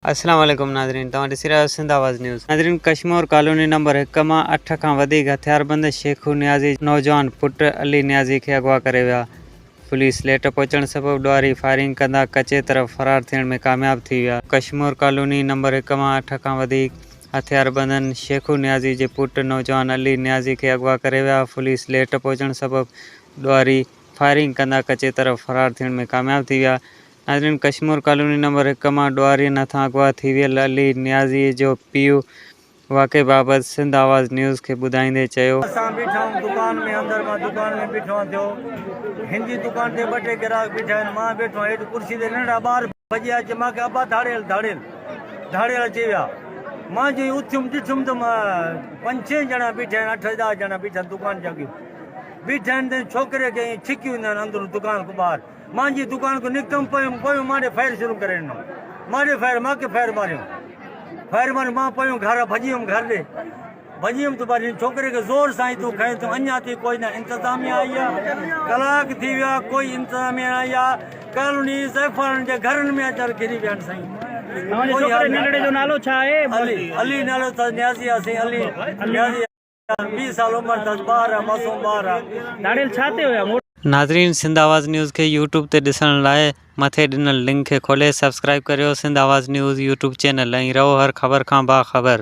السلام عليڪم ناظرين توهان ڏسي رهيا آهيو سنڌ آواز نيوز ناظرين ڪشمور ڪالوني نمبر هڪ مان اٺ کان وڌيڪ هٿياربند شيخو نيازي نوجوان پٽ علي نيازي کي اغوا ڪري ويا پوليس ليٽ پهچڻ سبب ڏوهاري فائرنگ ڪندا ڪچي طرف فرار ٿيڻ ۾ ڪامياب ٿي ويا. ڪشمور ڪالوني نمبر هڪ مان اٺ کان وڌيڪ هٿياربندن شيخو نيازي جي پٽ نوجوان علي نيازي کي اغوا ڪري ويا پوليس ليٽ پهچڻ سبب ڏوهاري فائرنگ ڪندا ڪچي طرف فرار ٿيڻ ۾ ڪامياب ٿي ويا ناظرين ڪشمور ڪالوني نمبر هڪ مان ڏوهارين هٿان اغوا ٿي ويل علي نيازيء جو پيء واقعي بابت سنڌ آواز نيوز کي ٻڌائيندي چيو. اسان بيٺا آهيون دڪان ۾ اندر مان دڪان ۾ بيٺو آهيان ٿيو هن جي دڪان تي ٻه ٽي گراهڪ بيٺا آهن مان بيٺو آهيان هيٺ ڪرسي تي ننڍڙا ٻار ڀڄي آيا چي مان کي ابا ڌاڙيل ڌاڙيل ڌاڙيل اچي ويا مان جئين اٿيم ڏٺم ته پنج ڇهه ڄڻا بيٺا آهن اٺ ڏهه ڄڻا بيٺا آهن دڪان جي اڳيان بيٺا آهن ته ڇوڪري کي ائين ڇڪي وينديون آهن اندرون دڪان کان ٻاهر مان جي دڪان کان نڪتم پيم پيو ماڏي فائر شروع ڪري ڏنو ماڏي فائر مان کي فائر ماريون فائر ماريون مان پيو گهر ڀڄي ويم گهر ڏي ڀڄي ويم ته بعد ڇوڪري کي زور سان ايتو کين ته اڃا تي ڪوئي نه انتظامي آئي آ ڪلاڪ ٿي ويا ڪوئي انتظامي نه آئي آ ڪالوني زيفارن جي گهرن ۾ اچر گهري ويا آهن سائين ڇوڪري ننڍڙي جو نالو ڇا آهي علي علي نالو ته نيازي آ سائين علي نيازي ويهه سال عمر تس ٻار آ معصوم ٻار آ ڌاڙيل ڇا تي هيا موٽ. ناظرين سنڌ آواز نيوز کي يوٽيوب تي ڏسڻ لاء مٿي ڏنل لنڪ کي کولي سبسڪرائيب ڪريو Sindh Awaz news YouTube channel ۽ رهو هر خبر کان باخبر.